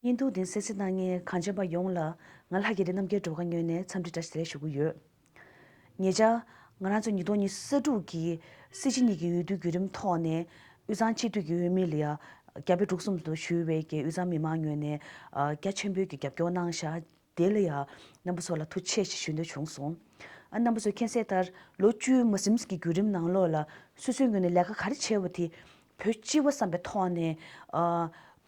བརྙན་ཐུང་འདི་གསལ་གསལ་གནང་མཁན་གངས་ཅན་པ་ཡོངས་ལ་ང་ལྷ་རྒྱལ་ལྡན་རྣམ་རྒྱལ་བྲོ་ག་སྨྱོན་ནས་འཚམས་འདྲི་བཀྲ་ཤིས་བདེ་ལེགས་ཞུ་གི་ཡོད། ངེད་ཅག་ང་རང་ཚོ་ཉིས་སྟོང་ཉི་ས་དྲུག་གི་སྲིད་སྤྱི་གཉིས་ཀྱི་འོས་བསྡུའི་བརྒྱུད་རིམ་ཐོག་ནས་དབུས་གཙང་སྤྱི་འཐུས་ཀྱི་འོས་མི་ལི་ཡ་རྒྱ་བལ་འབྲུག་གསུམ་དུ་ཞུས་བའི་ཀྱི་དབུས་གཙང་མི་མང་ངོས་ནས་རྒྱ་ཆེན་པོའི་ཀྱི་རྒྱབ་སྐྱོར་གནང་བཞག་དེ་ལ་ཡང་རྣམ་པ་ཚོ་ལ་ཐུགས་ཆེ་ཞེས་ཞུ་འདོད་བྱུང་སོང། ཨ་རྣམ་པ་ཚོས་མཁྱེན་གསལ་ལྟར་ལོ་བཅུའི་མི་སེམས་ཀྱི་བརྒྱུད་རིམ་ནང་ལོགས་ལ་སོ་སོའི་ངོས་ནས་ལས་ཀ་ག་རེ་བྱས་པ་དེ་བོད་སྤྱི་བ་བསམ་པའི་ཐོག་ནས།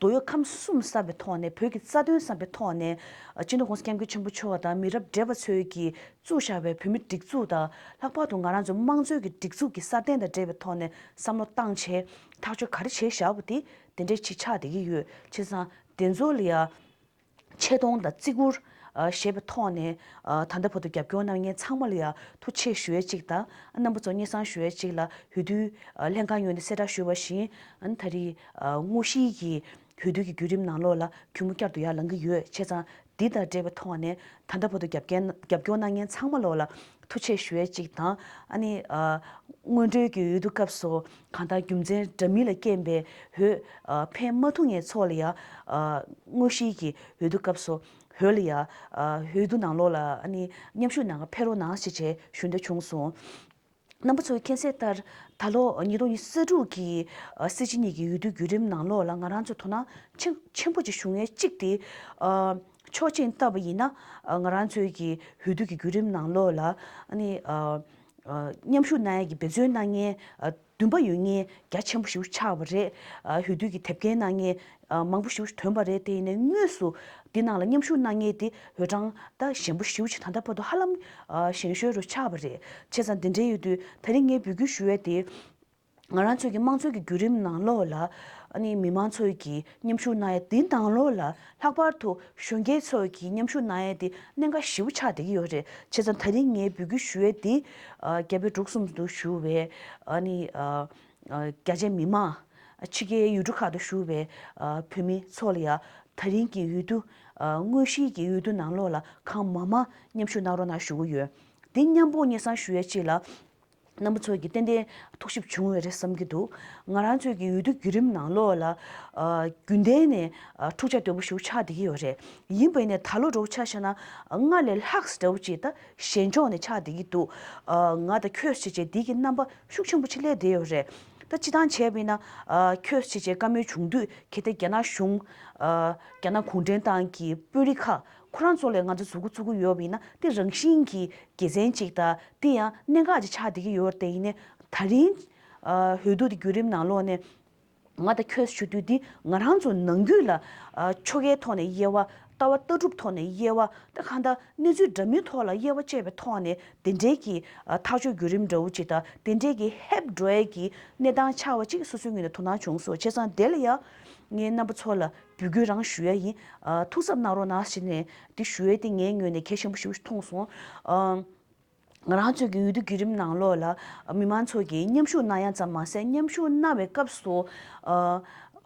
དོ་ཡོད་ཁམས་གསུམ་བསམ་པའི་ཐོག་ནས་བོད་ཀྱི་རྩ་དོན་བསམ་པའི་ཐོག་ནས། སྤྱི་འདོམས་ཀུང་སི་སྐྱབས་མགོན་ཆེན་པོ་མཆོག་དང་མི་རབས་འདས་པ་ཚོས་ཀྱིས་བཙུགས་བཞག་པའི་བོད་མིའི་སྒྲིག་འཛུགས་དང་ལྷག་པར་དུ་ང་རང་ཚོའི་དམངས་གཙོའི་གི་སྒྲིག་འཛུགས་ཀྱི་སྲ་བརྟན་དང་འབྲེལ་བའི་ཐོག་ནས་བསམ་བློ་བཏང་ཆེད་ཐག་གཅོད་ག་རེ་བྱས་བཞག་པ་དེ་དེ་འདྲའི་ཆིག་ཆག་དེ་གི་ཡོད་ཆེ་སང་དེ་ཚོ་ལ་ཡང། ཆེ་མཐོང་དང་བརྩི་བཀུར། ཞེས་པའི་ཐོག་ནས་ད་ལྟ་བར་དུ་རྒྱབ་སྐྱོར་གནང་མཁན་ཚང་མ་ལ་ཡང་ཐུགས་ཆེ་ཞུ་ཡས་གཅིག་དང་རྣམ་པ་ཚོ་སྙན་གསང་ཞུ་ཡས་གཅིག་ལ་ཧུད་དུས་ལྷན་ཁང་ཡོན་ཏན་གསལ་བསྒྲགས་ཞུས་པ་བཞིན་ད་རེས་དངོས་གཞིའི་གི་ཧུད་དུས་ཀྱི་བརྒྱུད་རིམ་ནང་ལོགས་ལ་གུས་མོ་བསྐྱར་དུ་ཡར་ལངས་ཀྱི་ཡོད་བྱས་ཙང་འདི་དང་འབྲེལ་བའི་ཐོག་ནས་ད་ལྟ་བར་དུ་རྒྱབ་སྐྱོར་གནང་མཁན་ཚང་མ་ལོགས་ལ་ཐུགས་ཆེ་ཞུ་ཡས་གཅིག་དང། དངོས་འབྲེལ་གྱི་ཡུལ་དུ་སྐབས་སུ། གང་དག་རྒྱུ་མཚན་འདྲ་མིན་ལ་རྐྱེན་པའི་འོད། འཕེན་མ་ཐུག་ངེས་ཚོགས་ལ་ཡང། དངོས་གཞིའི་གི་འོད་དུ་སྐབས་སོ། འོད་ལ་ཡང། འོད་དུ་ནང་ལོགས་ལ། མཉམ་ཞུགས་ནང་ཁར་འཕེལ་རོ་སྣང་ཞེས་བྱའི་ཞུན་ཟླ་བྱུང་གསུང། རྣམ་པ་ཚོགས་ཀྱི་མཁྱེན་གསལ་ལྟར། ད་ལོར་ཉིས་སྟོང་ཉི་ས་དྲུག་གི། སེར་བྱེས་གཉིས་ཀྱི་འོད་དུ་བརྒྱུད་རིམ་ནང་ལོགས་ལ་ང་རང་ཚོས་དོ་སྣང། ཆེན་པོ་བྱེད་ཞུ་ངེས་གཅིག་དེ། ཆོག་མཆན་བཏབ་པ་ཡིན་ན། ང་རང་ཚོའི་གི་འོད་དུ་གི་བརྒྱུད་རིམ་ནང་ལོགས་ལ། མཉམ་ཞུགས་གནང་ཡས་ཀྱི་འབད་བརྩོན་གནང་མཁན་བདུན་པ་ཡོད་ངེས་རྒྱ་ཆེན་པོ་ཞིག་ཆགས་པ་རེད། ཧུད་བསྡུས་ཀྱི་དེབ་སྐྱེལ་གནང་མཁན་མང་པོ་ཞིག་ཐོན་པ་རེད་དེ་ཡིན་ནའི་དངོས་སུ་འདི་ནང་ལ་མཉམ་ཞུགས་གནང་མཁན་དེ་འོས་གྲངས་ད་ཞན་པོ་ཞིག་ད་ལྟ་བར་དུ་ཧ་ལམ་ཞན་ཤོས་རུ་ཆགས་པ་རེད། བྱས་ཙང་འདི་འདྲའི་ཡུལ་དུ་ད་རིང་ངས་འབུལ་སྐྱོན་ཞུ་ཡས་དེ། ང་རང་ཚོའི་གི་དམངས་གཙོའི་གི་བརྒྱུད་རིམ་ནང་ལོགས་ལ་ཨ་ནི་མི་མང་ཚོའི་གི་མཉམ་ཞུགས་གནང་ཡས་དེ་དང་ལོགས་ལ་ལྷག་པར་དུ་གཞོན་སྐྱེས་ཚོའི་གི་མཉམ་ཞུགས་གནང་ཡས་དེ་གནད་འགག་ཞིའུ་ཆགས་བསྡད་གི་ཡོད་རེད་བྱས་ཙང་ད་རིང་ངས་འབུལ་རྒྱུ་ཞུ་ཡས་དེ་རྒྱ་བལ་འབྲུག་གསུམ་དུ་ཞུ་བའི་ཨ་ནི་རྒྱ་ཆེ་མི་མང་ཕྱི་རྒྱལ་ཡུལ་གྲུ་ཁག་དུ་ཞུ་བའི་བོད་མི་ཚོ་ལ་ཡང་ད་རིང་གི་ཡུལ་དུ་དངོས་གཞིའི་གི་ཡུལ་དུ་ནང་ལོགས་ལ་གང་མང་མང་མཉམ་ཞུགས་གནང་རོགས་གནང་ཞུ་གི་ཡོད་དེ་མཉམ་པོ་གཉེར་སང་ཞུ་ཡས་ཅིག་ལ། སྣམ་བུ་ཚོད་ཀྱིས་ཏན་ཏན་ཐུགས་ཞིབ་བྱུང་བས་རེད་བསམ་གྱི་འདུག་ང་རང་ཚོས་ཀྱི་འོས་བསྡུ་བརྒྱུད་རིམ་ནང་ལོགས་ལ་རྒྱུན་ལྡན་ནས་འཁྲུག་ཆ་དོད་པོ་ཞུགས་ཆགས་བསྡད་ཀྱི་ཡོད་རེད་ཡིན་པས་ནས་ད་ལོ་འགྲོ་ཆ་ཤ་ན་སྔར་ལས་ལྷག་ཟེར་བ་ཅིག་ད་གཞན་ཕྱོགས་ནས་ཆགས་བསྡད་ཀྱི་འདུག་ང་ད་ཁྱོད་བྱས་རྗེས་འདི་གི་རྣམ་པ་ཤུགས་ཆེན་པོ་ཆེ་སླེབས་བསྡད་ཡོད་རེད་ད་སྤྱི་བཏང་བྱས་པས་ན་ཁྱོད་བྱས་རྗེས་བཀའ་མོལ་བྱུང་དུས་གལ་ཏེ་རྒྱ་ནག་གཞུང་རྒྱ་ནག་གུང་ཁྲན་ཏང་གི་དཔོན་རིགས་ཁག་ཁོ་རང་ཚོ་ལས་ང་ཚོ་གཟུགས་སྐུ་བཙུགས་ཀྱི་ཡོད་པ་ཡིན་ན་དེ་རང་བཞིན་གྱིས་དགེ་མཚན་གཅིག་དང་དེ་ཡང་གནད་འགག་ཅིག་ཆགས་བསྡད་ཀྱི་ཡོད་དེ་ཡིན་ནད་ད་རིང། འོས་བསྡུ་དེ་བརྒྱུད་རིམ་ནང་ལོགས་ནས། ང་དང་ཁྱོད་ཞུ་དུས་འདི་ང་རང་ཚོ་ནང་རྒྱུད་ལ། ཆོ་གའི་ཐོག་ནས་དབྱེ་བ། ལྟ་བ་ལྟ་གྲུབ་ཐོག་ནས་དབྱེ་བ། ད་གང་ལྟར་གནས་ཚུལ་འདྲ་མིན་ཐོག་ལ་དབྱེ་བ་བཅད་པའི་ཐོག་ནས་དེ་འབྲེལ་གྱི་ཐག་གཅོད་བརྒྱུད་རིམ་འདྲ་བོ་ཅིག་དང་དེ་འབྲེལ་གྱི་ཧེབ་སྒྲོལ་གྱི་གནས་སྟངས་ཆགས་པ་ཅིག་སོ་སོའི་ངོས་ནས་དོ་སྣང་བྱུང་སོང་བྱས་ཙང་དེ་ལ་ཡང། ངའི་རྣམ་པ་ཚོ་ལ་རྒྱུ་རྒྱུ་རང་ཞུ་ཡ་ཡིན། ཐུགས་གཟབ་གནང་རོགས་གནང་ཞེས་ནས་དེ་ཞུ་ཡ་དེ་ངའི་ངོས་ནས་གལ་ཆེན་པོ་ཞིག་མཐོང་སོང། ང་རང་ཚོས་ཀྱི་འོས་བསྡུ་བརྒྱུད་རིམ་ནང་ལོགས་ལ་མི་མང་ཚོགས་ཀྱིས་མཉམ་ཞུགས་གནང་ཡ་ཙམ་མ་ཟད་མཉམ་ཞུགས་གནང་བའི་སྐབས་སུ།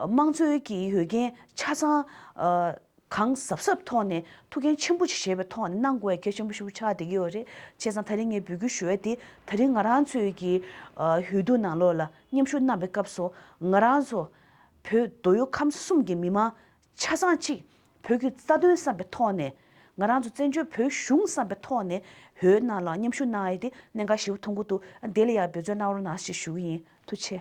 དམངས་གཙོའི་ཀྱི་ཡོད་འགན་ཆ་ཚང། གང་གཟབ་གཟབ་ཐོག་ནས་ཐུགས་འགན་ཆེན་པོ་ཞིག་བཞེས་པའི་ཐོག་ནས་གནང་དགོས་ཡ་གལ་ཆེན་པོ་ཞིག་ཆགས་བསྡད་ཀྱི་ཡོད་རེད། བྱས་ཙང་ད་རིང་ངས་འབུལ་རྒྱུ་ཞུ་ཡ་དེ་ད་རིང་ང་རང་ཚོས་ཀྱི་འོས་བསྡུ་ནང་ལོགས་ལ་མཉམ་ཞུགས་གནང་བའི་སྐབས་སུ་ང་རང་ཚོ། བོད་མདོ་ཡོ་ཁམས་གསུམ་གྱི་མི་མང་ཆ་ཚང་གཅིག་བོད་བརྒྱུད་རྩ་དོན་བསམ་པའི་ཐོག་ནས་ང་རང་ཚོ་བཙན་བྱོལ་བོད་གཞུང་བསམ་པའི་ཐོག་ནས་བོད་ནང་ལ་མཉམ་ཞུགས་གནང་ཨེ་དེ་གནད་འགག་ཞིག་བུ་ཐུང་གུ་དུ་དེ་ལ་ཡང་འབོད་བརྩོན་གནང་རོགས་གནང་ཞེས་ཞུ་གི་ཡིན་ཐུགས་ཆེ།